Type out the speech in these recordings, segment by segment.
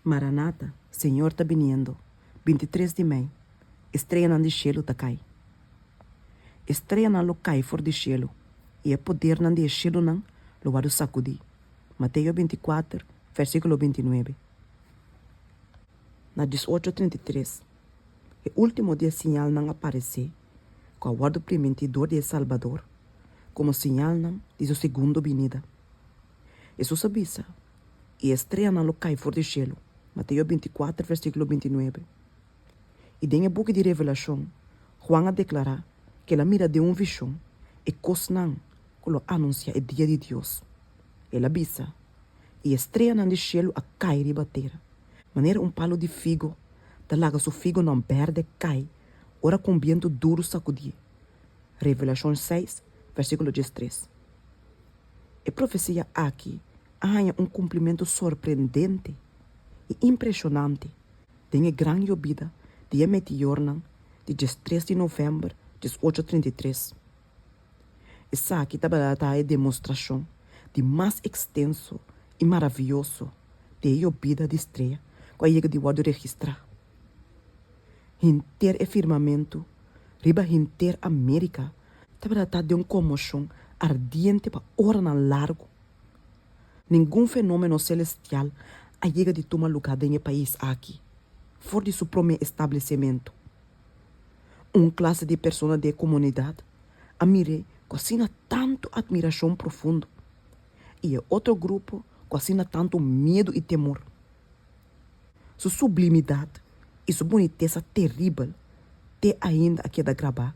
Maranata, Señor ta biniendo, binti tres di mei, estreanan di shelu ta kai. Estreanan lo kai for di shelu, i e podernan di e shelunan lo wòrdu sakudí. Mateo binti kuater, vèrsikulo binti nuebe. Na dies ocho trinta i tres, e último di e siñalnan a paresé, ku a wòrdu primintí dor di e Salbador, komo siñalnan di su segundo binida. Hesus a bisa i estreanan lo kai for di shelu, Mateo binticuater versículo bintinuebe. I den e buki di Revelashon, Huan a deklará ku el a mira den un vishon e kosnan ku lo anunsiá e dia di Dios. El a bisa, I estreanan di shelu a kai riba tera, manera un palu di figo ta laga su figonan bèrdè kai ora ku un bientu duru sakudié, Revelashon seis, versíkulo diestres. E profesia aki a haña un kumplimentu sorprendente i impreshonante den e gran yobida di e meteornan di dies tres di novèmber dies ocho trinta i tres. Esaki tabata ta e demostrashon di mas ekstenso i maravioso di e yobida di strea ku a yega di wòrdu registrá henter e firmamentu riba henter Amérika Ta bira ta den un conmoción ardiente pa oranan largo. Ningun fenomeno celestial a yega di tuma lugar den e pais aki for di su prome establecemento. Un clase di persona di e comunidad a mir'e cu asina tanto admiracion profundo y e otro grupo cu asina tanto miedo y temor. Su sublimidat i su bonitesa teribel te ainda a keda grabá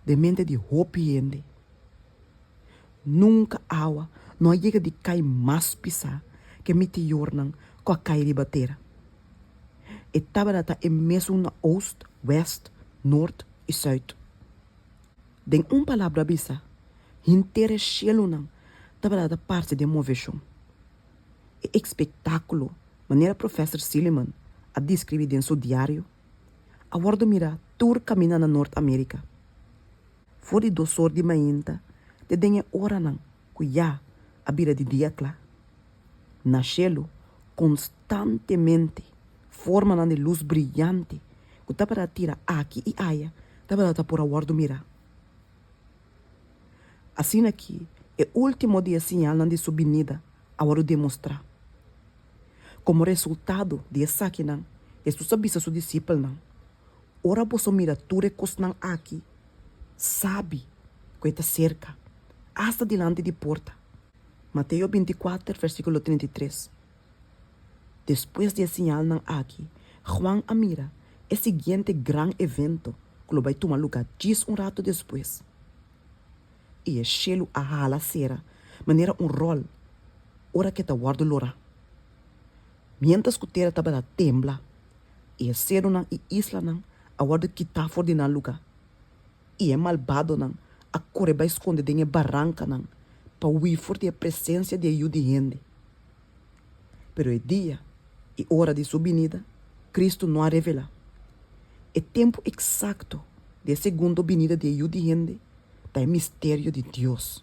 den mente di hopi hende. Nunka awa no a yega di kai mas pisá ke mitiornan ku a kai riba tera. E tabata ta e mesun na Oost, West, Noord i Zuid. Den un palabra bisa, henter e shielunan tabata ta parse den moveshon. E espektákulo, manera Profèsor Silliman a deskribí den su diario, a wòrdu mirá tur kaminda na Nort Amérika. For di dos or di mainta te den e oranan ku ya a bira di dia kla, na shelu konstantemente formanan di lus briyante ku tabata tira aki i aya tabata ta por a wòrdu mirá. Asina ki e ultimo di e siñalnan di su binida a wòrdu demostrá. Komo resultado di esakinan, Hesus a bisa su disipelnan, Ora boso mira tur e kosnan aki, sabi ku e ta serka, asta dilanti di porta. Mateo binti kuater, vèrsikulo trinta i tres. Despues di e siñalnan aki, Juan a mira e siguiente gran evento ku lo bai tuma lugá djis un ratu despues, i e shelu a hala sera manera un ròl ora ku e ta wòrdu lorá, miéntras ku tera tabata tembla i e serunan i islanan a wòrdu kitá for di nan lugá. I e malbadonan a kore bai skonde den e barankanan pa hui for di e presensia di e yu di hende. Pero e dia i ora di su binida Kristu no a revelá. E tempu eksakto di e segundo binida di e Yu di hende ta e misterio di Dios.